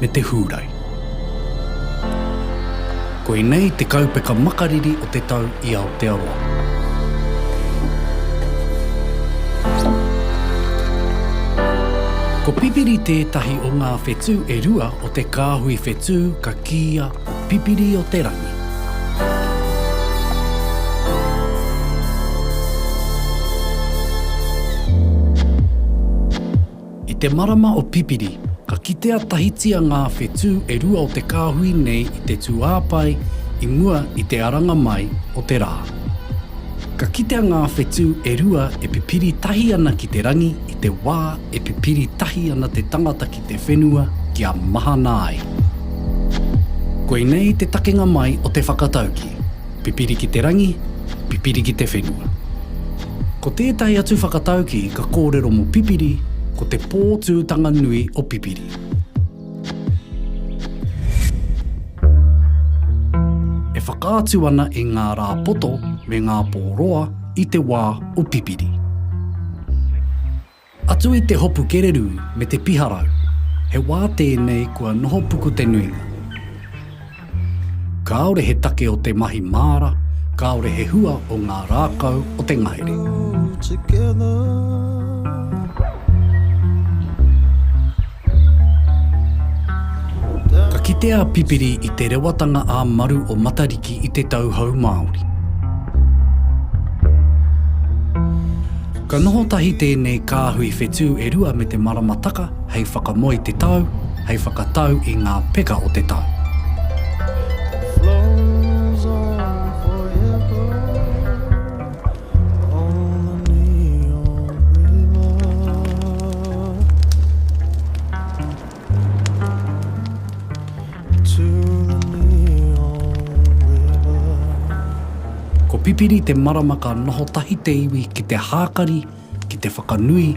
me te Hūrai. Koinei te kaupeka makariri o te tau i Aotearoa. Ko Pipiri tētahi o ngā whetū e rua o te kāhui whetū ka kīia Pipiri o te Rangi. I te marama o Pipiri, ka kitea tahitia ngā whetū e rua o te kāhui nei i te tūāpae i mua i te aranga mai o te rā. Ka kitea ngā whetū e rua e pipiri tahi ana ki te rangi i te wā e pipiri tahi ana te tangata ki te whenua kia mahana ai. Koinei te takenga mai o te whakatauki. Pipiri ki te rangi, pipiri ki te whenua. Ko tētahi atu whakatauki ka kōrero mō pipiri ko te pōtūtanga nui o pipiri. E whakaatu ana i ngā rā poto me ngā pō roa i te wā o pipiri. Atu i te hopu kererū me te piharau, he wā tēnei kua noho puku te nuinga. Kāore he take o te mahi māra, kāore he hua o ngā rākau o te ngahere. Ka kite a Pipiri i te rewatanga ā-maru o Matariki i te tauhou Māori. Ka noho tahi tēnei kāhui whetū e rua me te maramataka hei whakamoe te tau, hei whakatau i ngā peka o te tau. Ko Pipiri te marama ka noho tahi te iwi ki te hākari, ki te whakanui,